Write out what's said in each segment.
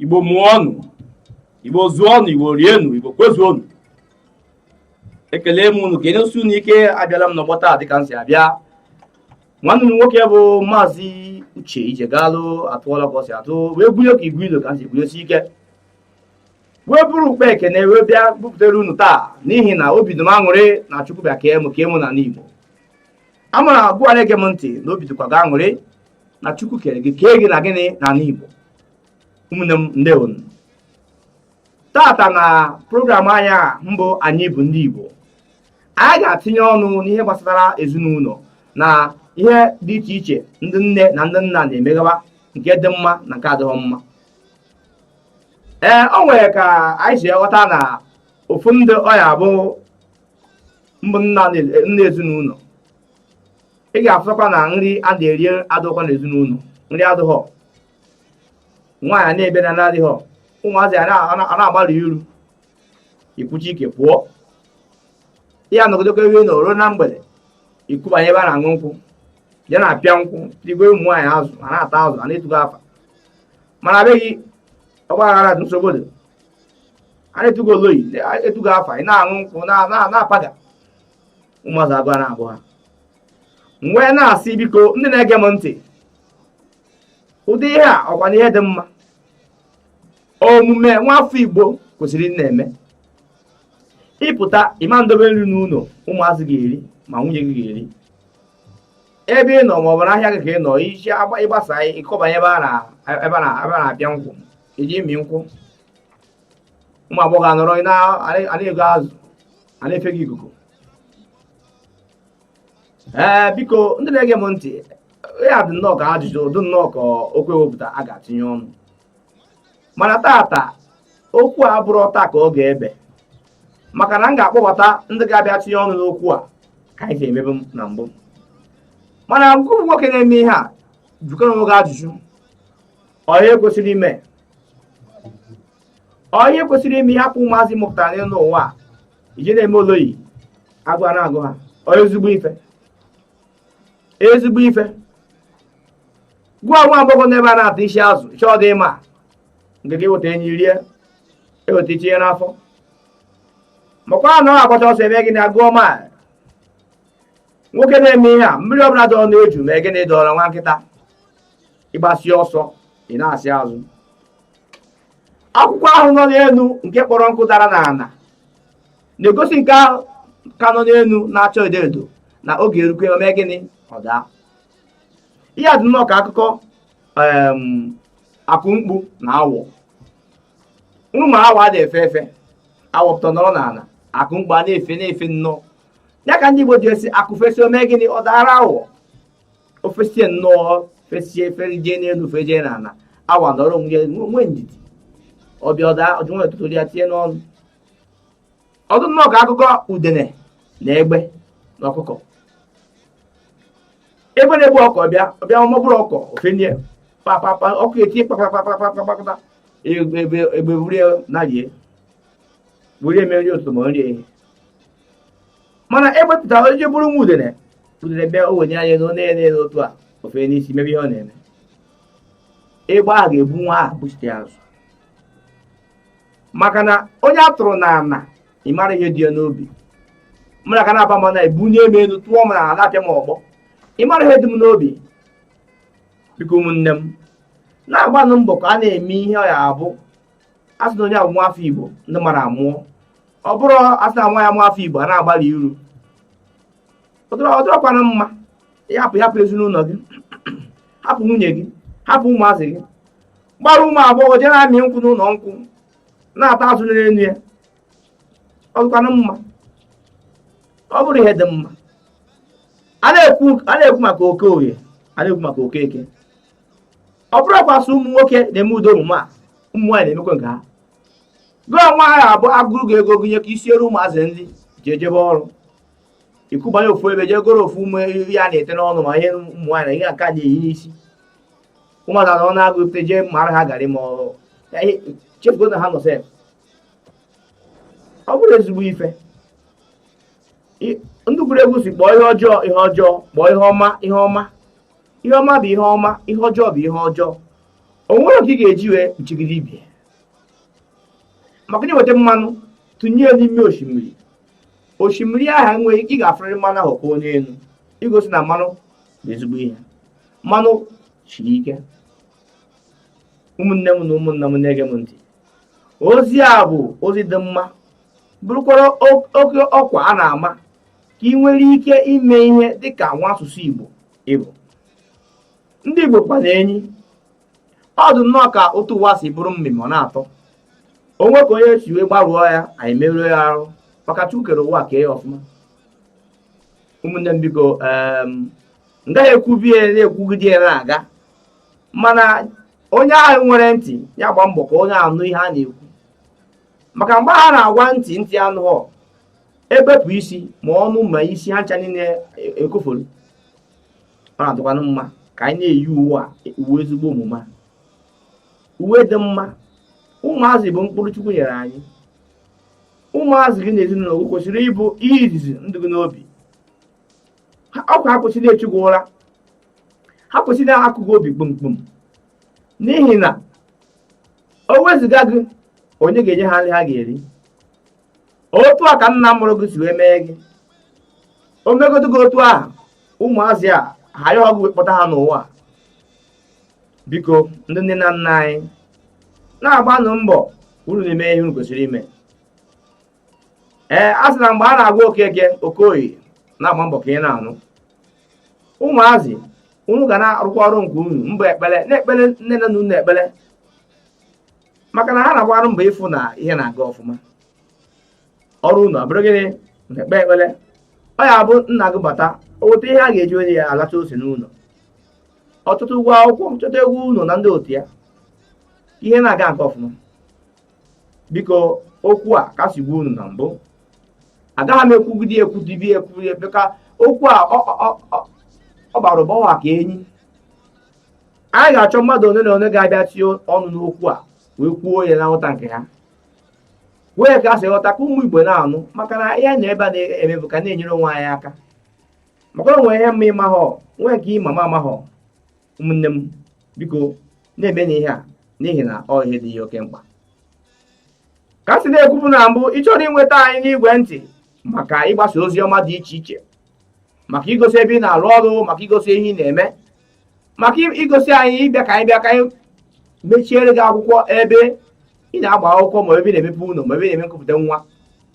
igbo mụọnụ igbo zụọnụ igbo rienụ igbo kwezuonụ ekele m unu kenesie unu ike abịala m n'ọgbọ taa dịka m si abịa nwanne unu nwoke bụ maazị uche ijegalụ atụọla ka ọ si atụ wee gwunye ka igwe ilo ka m si gwunyesi ike wee buru ụkpa ekene wee bịa bupụtara unu taa n'ihi na obi dị m aṅụrị na chukwu bịa kee mụ n'ala igbo amara gị bụ onye na-ege m ntị na obi dịkwa gị aṅụrị na chukwu kere gị kee gị na gịnị n'ala igbo ụmụnne m ndewo tata na program anyị a mbụ anyị bụ ndị Igbo anyị ga-atinye ọnụ n'ihe gbasara ezinụlọ na ihe dị iche iche ndị nne na ndị nna na-emegawa nke dị mma na nke adịghị mma ee o nwere ka anyị si ghọta na ofu ndị ọya bụ mbụ nna ezinụlọ ị ga-afụtakwa na nri a na-eri adịghịkwa n'ezinụlọ nri adịghọ nwaanyị na-ebe na adịghị ụmụazị ana-agbarụ iru ikwuchi ike pụọ ị ya nọgidekwa n'ọrụ na mgbede ị kubanye ebe a na-aṅụ nkwụ ya na-apịa nkwụ ị gowe ụmụ nwaanyị azụ a na-ata azụ a na-etu gị afa mana be gị ọgbaghara dị nsogbu dị a na-etu gị oloyi etu gị afa ị na-aṅụ nkwụ na-apaga ụmụazị agụụ ana-agụ ha m wee na-asị biko ndị na-ege m ntị ụdị ihe a ọkwanụ ihe dị mma omume nwafọ igbo kwesịrị ịna-eme ị pụta ị ma ndobe nri n'ụlọ ụmụazị ga-eri ma nwunye gị ga-eri ebe ị nọ maọbụ n'ahịa gị ka ị nọ ị si ị gbasaa ị kọbanye ebe a na-apịa nkwụ iji imi nkwụ ụmụ agbọghọ anọrọ na-ego azụ a na-efe gị ikuku ee eh, biko ndị na-ege m ntị ya dị nnọọ ka ajụjụ dị nnọọ ka okwu ewepụta a ga-atinye ọnụ mana tata okwu a abụrọ taa ka ọ ga-ebe maka na m ga-akpọbata ndị ga-abịa tinye ọnụ n'okwu a ka anyị si emebe na mbụ mana ngị bụ nwoke na-eme ihe a jụkwanụ onwe gị ajụjụ onye kwesịrị ime onye kwesịrị ime ịhapụ ụmụazị ị mụpụtara n'ụwa a i ji na-eme oloyi agụụ na-agụ ha ezigbo ife ezigbo ife gụọ nwa agbọghọ n'ebe a na-ata isi azụ chọọ dị ịma nke gị weta enyi rie e weta i tinye n'afọ makwa na ọ agbacha ọsọ ebe gị na-agụọ ma nwoke na-eme ihe a mmiri ọbụla dọrọ n'eju me gịnị dọrọ nwa nkịta ị gbasịa ọsọ ị nachi azụ akwụkwọ ahụ nọ n'elu nke kpọrọ nkụ dara n'ala na-egosi nke ahụ ka nọ n'elu na-acha edo edo na oge erukwe o me gịnị ọ daa ihe dị nnọọ ka akụkọ akụ mkpu na awọ unu ma awọ adị efe efe awọ pụta nọrọ n'ala akụ mkpu a na-efe na-efe nnọọ ya ka ndị Igbo ji asị akụ fesịa o me gịnị ọ daara awọ o fesịa nnọọ fesịa fejee n'elu fejee n'ala awọ nọrọ nwee ndidi ọ bịa ọ daa o ji nwayọ tụtụ ya tinye n'ọnụ ọ dụ nnọọ ka akụkọ udene na egbe na ọkụkọ egbe na-ebu ọkụkọ ọ bịa ọ bịa ọ ma buru ọkụkọ o fenie papapa ọkụkọ etiwe kpakpakpakpakpakpakpakpa egbe buru ya naa rie buru ya mere nri ụtụtụ ma nri ehihie mana egbe pụta jee buru nwa udene udene bịa o wenie anya n'enu na-ele otu a o fee n'isi mebe ihe ọ na-eme egbe ahụ ga-ebu nwa ahụ buchite azụ maka na onye a tụrụ n'ana ị mara ihe dị ya n'obi mara ka na-aba mana ebunie m elu tụọ m n'ala apịa m ọgbọ ị mara ihe dị m n'obi biko ụmụnne m na-agbanụ mbọ ka a na-eme ihe ọ ya-abụ asị na onye a bụ nwa afọ igbo ndị mara amụọ ọ bụrọ asị na nwa ya nwa afọ igbo a na-agbarụ iru ọ dịrọkwanụ mma ịhapụ hapụ ezinụlọ gị hapụ nwunye gị hapụ ụmụazị gị gbara ụmụ agbọghọ jee na-amị nkwụ n'ụlọ nkwụ na-ata azụ n'elu ya ọ dịrọkwanụ mma ọ bụrọ ihe dị mma a na-ekwu maka okoye a na-ekwu maka okeke ọ bụrọkwa sọ ụmụ nwoke na-eme ụdị omume a ụmụ nwaanyị na-emekwa nke ha gụọ nwa ha abụ agụrụ gị ego gụnye ka i siere ụmụazị nri jee jebe ọrụ i kubanye ofu ebe jee goro ofu ụmụ ihe a na-ete n'ọnụ ma ihe ụmụ nwaanyị na ihe nke a na-eyi n'isi ụmụazị anọ n'agụụ pụta jee mara ha garị ma chefugo na ha nọ sef ọ bụrọ ezigbo ife ndị gụrụ egwu sị kpọọ ihe ọjọọ ihe ọjọọ kpọọ ihe ọma ihe ọma ihe ọma bụ ihe ọma ihe ọjọọ bụ ihe ọjọọ o nwere oke ị ga-eji wee kpuchigide ibi maka na i weta mmanụ tụnye ya n'ime osimiri osimiri ahụ enweghị ị ga-afụrịrị mmanụ ahụ ka ọ nọ n'elu igosi na mmanụ bụ ezigbo ihe mmanụ siri ike ụmụnne m na ụmụnna m na-ege m ntị ozi a bụ ozi dị mma bụrụkwara oke ọkwa a na-ama ka ị nwere ike ime ihe dị ka nwa asụsụ Igbo ịbụ ndị Igbo kwana enyi ọ dị nnọọ ka otu ụwa si bụrụ mmemme ọ na-atọ o nwe ka onye si wee gbarụọ ya anyị merụọ ya arụ maka Chukwu kere ụwa kee ya ọfụma ụmụnne m biko m gaghị ekwubie na-ekwugide ya na-aga mana onye ahụ nwere ntị ya gba mbọ ka ọ na-anụ ihe a na-ekwu maka mgbe a na-agwa ntị ntị anụghọ e bepụ isi ma ọnụ ma isi ha ncha niile ekofolu ọ na-adịkwanụ mma ka anyị na-eyi uwe a uwe ezigbo omume a uwe dị mma ụmụazị bụ mkpụrụ chukwu nyere anyị ụmụazị gị na ezinụlọ gị kwesịrị ịbụ ihe izizi ndụ gị n'obi ọkwa ha kwesị na-echu gị ụra ha kwesị na-akụ gị obi kpomkpom n'ihi na o wezụga gị onye ga-enye ha nri ha ga-eri otu a ka nna mụrụ gị si wee mee gị o megodu gị otu ahụ ụmụazị a ha ayọhọ gị wee kpọta ha n'ụwa biko ndị nne na nna anyị na-agbanụ mbọ unu na-eme ihe unu kwesịrị ime ee a sị na mgbe a na-agwa okeke okoye na-agba mbọ ka ị na-anụ ụmụazị unu ga na-arụkwa ọrụ nke unu mbụ ekpere na-ekpere nne na nna unu ekpere maka na ha na-agba arụ mbọ ịfụ na ihe na-aga ọfụma ọrụ unu abụrụ gịnị na-ekpe ekpere ọ ya-abụ nna gị bata o weta ihe a ga-eji onye ya alacha ose n'ụlọ ọ chọta ụgwọ akwụkwọ chọta ụgwọ ụlọ na ndị otu ya ihe na-aga nke ọfụma biko okwu a ka si gwa unu na mbụ agaghị m ekwugide ekwudibi ekwudi ebe ka okwu a ọ bara ụbawa ka enyi anyị ga-achọ mmadụ one na one ga-abịa tinye ọnụ n'okwu a wee kwuo ya na nghọta nke ha wee ka ha si ghọta ka ụmụ igbo na-anụ maka na ihe na ebe a na-eme bụ ka na-enyere onwe anyị aka maka na o nwe ihe m ma ị mahọ nwee nke ị ma m amahọ ụmụnne m biko na-emenụ ihe a n'ihi na ọ ihe dị ya oke mkpa ka a si na-ekwubu na mbụ ị chọrọ inweta anyị n'igwe ntị maka ịgbasa ozi ọma dị iche iche maka igosi ebe ị na-arụ ọrụ maka igosi ihe ị na-eme maka igosi anyị ịbịa ka anyị bịa ka anyị mechiere gị akwụkwọ ebe ị na-agba akwụkwọ ma ebe ị na-emepe ụlọ ma ebe ị na-eme nkụpụta nwa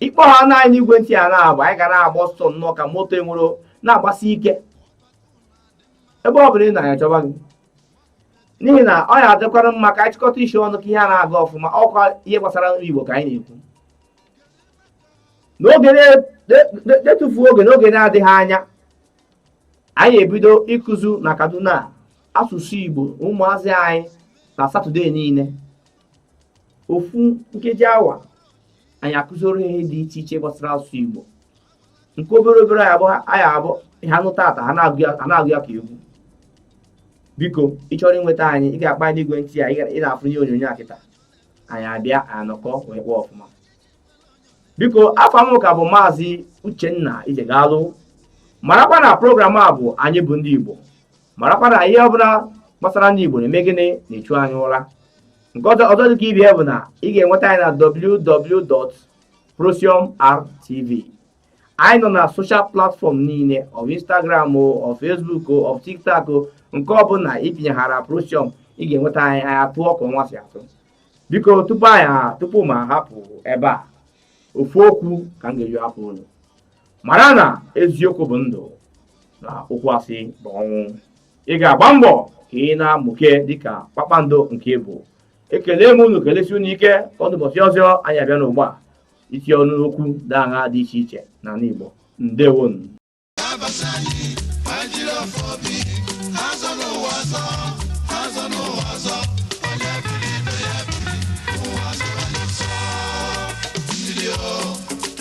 ị kpọhaana anyị n'igwe ntị a na-agba anyị ga na-agba ọsọ nnọọ ka moto enwere na-agbasi ike ebe ọ bụla ị nọ anyị achọba gị n'ihi na ọ ya-adịkwara mma ka anyị chịkọta isi ọnụ ka ihe a na-aga ọfụma ọkwa ihe gbasara ndị Igbo ka anyị na-ekwu n'oge detufuo oge n'oge na-adịghị anya anyị ya-ebido ịkụzu na Kaduna asụsụ Igbo ụmụazị anyị na Satọde niile ofu nkeji awa anyị akụziri ihe dị iche iche gbasara asụsụ Igbo nke obere obere ya bụ ha nụtata ha na-agụ ya ka egwu biko ị chọrọ inweta anyị ị ga-akpọ anyị n'igwe ntị a ị na-afụ n'ihe onyonyo a kịta anyị abịa anọkọ wee kpaa ọfụma biko afa m ka bụ maazị Uchenna Ijegalụ marakwa na program a bụ anyị bụ ndị Igbo marakwa na ihe ọbụla gbasara ndị Igbo na-eme gịnị na-echu anyị ụra nke ọzọ dịka ibe ya bụ na ị ga-enweta anyị na www.prosiumrtv anyị nọ na soshal platfọm niile ọ Instagram o ọ Facebook o ọ TikTok o nke ọbụla itinyehara Prosium ị ga-enweta anyị anyị atụọ ka ọnwa si atụ biko tupu m ahapụ ebe a ofu okwu ka m ga-eji hapụ unu mara na eziokwu bụ ndụ na okwu asị bụ ọnwụ ị ga-agba mbọ ka ị na-amụke dịka kpakpando nke ị bụ ekele m unu kelesi unu ike ka ọ dị ụbọchị ọzọ anyị abịa n'ịgba isi ọnụ n'okwu ndị ahụ dị iche iche n'ala Igbo ndewonu